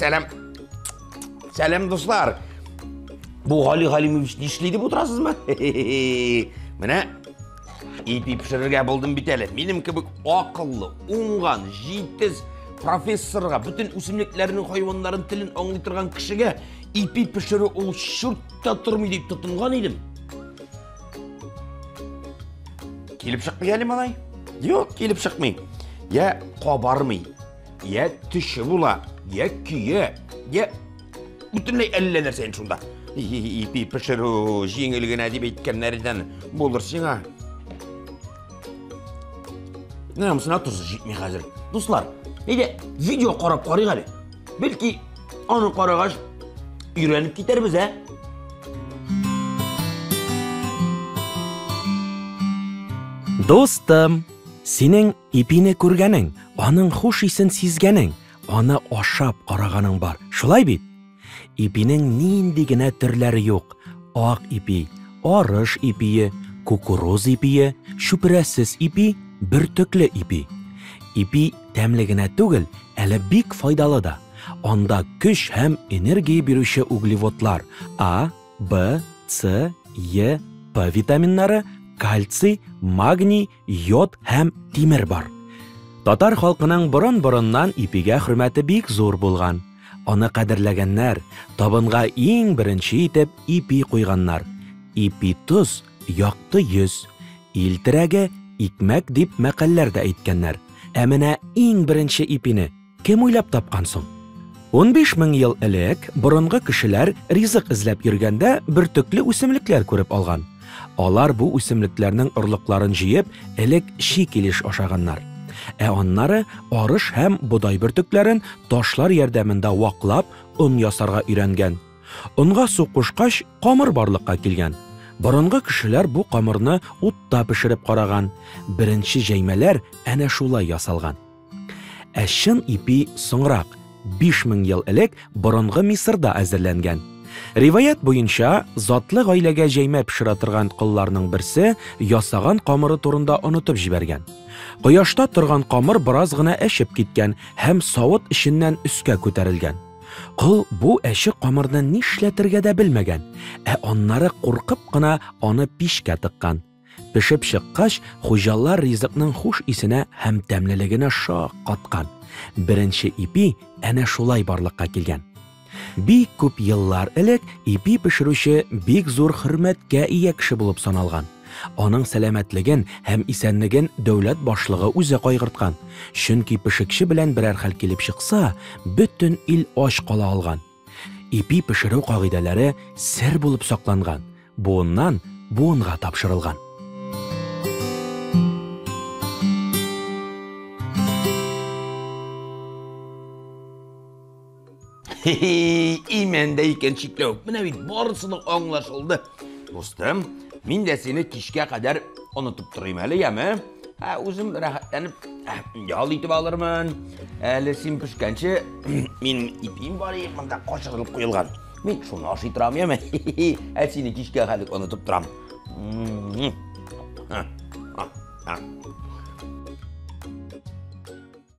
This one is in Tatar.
Сәлам. Сәлам, дуслар. Бу Гали Галимович нишләде бу торасызмы? Менә ипи пешерергә булдым бит әле. Минем кебек акыллы, уңган, җитез профессорга, бөтен үсемлекләрнең хайваннарын телен аңлый торган кешегә ипи пешерү ул шурт та тормый дип тотынган идем. Килеп чыкмый әле малай? Юк, килеп чыкмый. Я кабармый, я төше була, я көе, я бөтенләй әллә нәрсә инде шунда. Ипи пешерү җиңел генә дип әйткәннәрдән булыр сиңа. Менә мусына тузы җитми хәзер. Дуслар, әйдә видео карап карыйк әле. Бәлки, аны карагач, өйрәнеп китәрбез, ә? Достым, синең ипине күргәнең, аның хуш исен сизгәнең, аны ашап караганың бар. Шулай бит? Ипинең нинди генә төрләре юк. Ак ипи, арыш ипие, кукуруз ипие, чүпрәсез ипи, бөртекле ипи. Ипи Тәмле генә түгел, әле бик файдалы да. Анда көч һәм энергия бирүче углеводлар, А, Б, С, Е, П витаминнары, кальций, магний, йод һәм тимер бар. Татар халкының борын-борыннан ипигә хөрмәте бик зур булган. Аны кадерләгәннәр, табынга иң беренче итеп ипи куйганнар. Ипи тоз, Якты йөз, ил терәге, икмәк дип мәкальләр дә әйткәннәр. Ә менә иң беренче ипине кем уйлап тапкан соң? Унбиш мең ел элек борынгы кешеләр ризык эзләп йөргәндә бөртекле үсемлекләр күреп алган. Алар бу үсемлекләрнең орлыкларын җыеп, элек чи килеш ашаганнар. Ә аннары арыш һәм бодай бөртекләрен ташлар ярдәмендә ваклап, он ясарга өйрәнгән. Онга су кушкач, камыр барлыкка килгән. Борынгы кешеләр бу камырны утта пешереп караган, беренче җәймәләр әнә шулай ясалган. Ә чын ипи соңрак, 5000 ел элек борынгы Мисырда әзерләнгән. Риваять буенча, затлы гаиләгә җәймә пешерә торган колларның берсе ясаган камыры турында онытып җибәргән. Кояшта торган камыр бераз гына әчеп киткән һәм савыт эченнән өскә күтәрелгән. Кол бу әче камырны нишләтергә дә белмәгән, ә аннары куркып кына аны пичкә тыккан. Пешеп чыккач, хуҗалар ризыкның хуш исенә һәм тәмлелегенә шак каткан. Беренче ипи әнә шулай барлыкка килгән. Бик күп еллар элек ипи пешерүче бик зур хөрмәткә ия кеше булып саналган. Аның сәламәтлеген һәм исәнлеген дәүләт башлыгы үзе кайгырткан, чөнки пешекче белән берәр хәл килеп чыкса, бөтен ил ач кала алган. Ипи пешерү кагыйдәләре сер булып сакланган, буыннан буынга тапшырылган. И мәндә икән чикләү. Менә бит барысы да аңлашылды. Дустым, мин дә сине кичкә кадәр онытып торыйм әле, яме? Ә үзем рәхәтләнеп ял итеп алырмын. Әле син пешкәнче мин ипим бар и монда качырылып куелган. Мин шуны ашый торам, яме? Ә сине кичкә хәлек онытып торам.